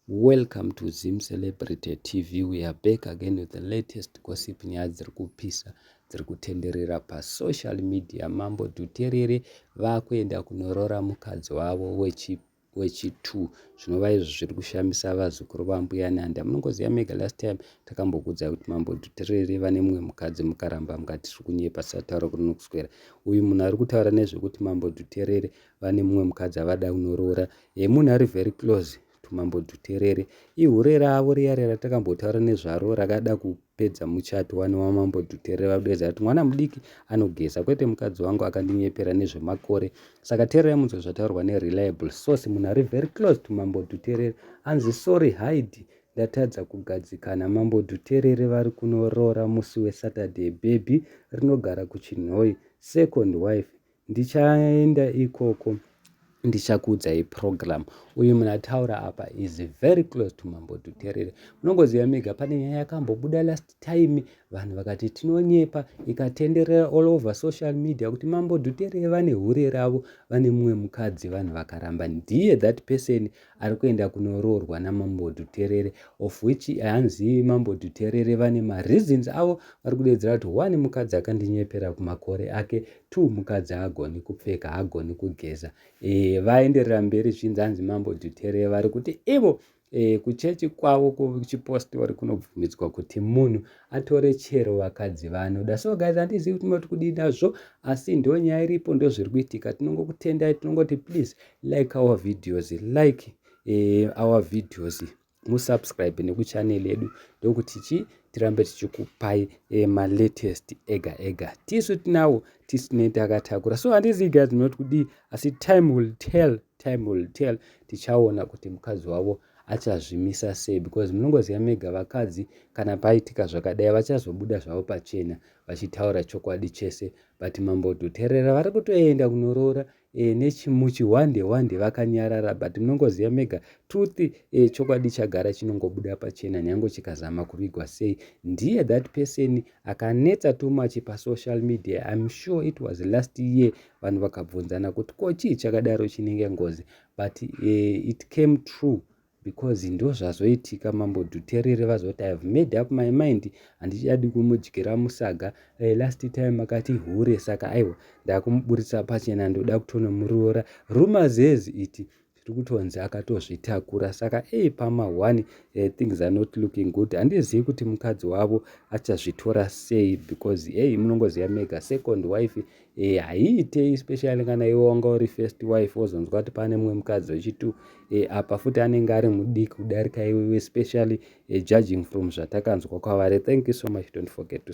Welcome to Zim Celebrity TV. We are back again with the latest gossip nyaya dziri kupisa dziri kutenderera pasocial media. Mambo Dhuterere vakuenda kunorora mukadzi wavo wechi wechi2 zvinova izvo zviri kushamisa vazukuru vambuya nanda munongoziva mega last time takambokuudzai kuti mambo dhuterere vane mumwe mukadzi mukaramba mukati tiri kunyepa sataura kunokuswera uyu munhu ari kutaura nezvekuti mambo dhuterere vane mumwe mukadzi avada kunoroora e, munhu ari very close tumambo tuterere ihure ravo riyare ratakambotaura nezvaro rakada kupedza muchato wani wamambo tuterere vakudeedza kuti mwana mudiki anogeza kwete mukadzi wangu akandinyepera nezvemakore saka tererai munzwe zvataurwa nereliable source munhu ari very close tumambo tuterere anzi sorry hide ndatadza kugadzikana mambo dhuterere vari kunoroora musi wesaturday bhebhi rinogara kuchinhoi second wife Ndichaenda ikoko ndichakuudzai program uyu munhu ataura apa is very close to mambo tuterere munongoziva mega pane nyaya yakambobuda last time vanhu vakati tinonyepa ikatenderera all over social media kuti mambo duterere vane hure ravo vane mumwe mukadzi vanhu vakaramba ndiye that person ari kuenda kunoroorwa namambo dhuterere of which hanzi mambo dhuterere vane mareasons avo vari kudedzera kuti one mukadzi akandinyepera kumakore ake two mukadzi haagoni kupfeka haagoni kugeza e, vaenderera mberi zvinzi hanzi mambo dhuterere vari kuti ivo e, kuchechi kwavo kuchipostori kunobvumidzwa kuti munhu atore chero vakadzi vanoda so guys handizivi kuti moti kudii nazvo asi ndo nyaya iripo ndozviri kuitika tinongokutendai tinongoti please like our videos like eh, our videos musubscribe nekuchanel yedu ndokuti chi tirambe tichikupai eh, malatest ega ega tisu tinawo tisu tine takatakura so handizi guys not kudii asi time will tell time will tell tichaona kuti mukadzi wavo achazvimisa sei because munongoziva mega vakadzi kana paitika zvakadai vachazobuda zvavo pachena vachitaura chokwadi chese but mambo dhuterera vari kutoenda kunoroora e, nechimuchi hwande hwande vakanyarara but munongoziva mega truth e, chokwadi chagara chinongobuda pachena nyange chikazama kuvigwa sei ndiye that person akanetsa too much pasocial media im sure it was last year vanhu vakabvunzana kuti ko chii chakadaro chinenge ngozi but e, it came true because ndozvazoitika mambo dhuterere vazoti ihave made up my mind handichadi kumudyira musaga uh, last time akati hure saka aiwa ndakumuburitsa pachena ndoda kutonomuroora rumors has it tiri kutonzi akatozvitakura saka ei pama one uh, things are not looking good handizivi kuti mukadzi wavo achazvitora sei because ei munongoziva mega second wife e, haiitei especially kana iwe wanga uri first wife wozonzwa kuti pane mumwe mukadzi wechitu e, eh, apa futi anenge ari mudiki kudarika iwe especially e, judging from zvatakanzwa kwavari thank you so much don't forget to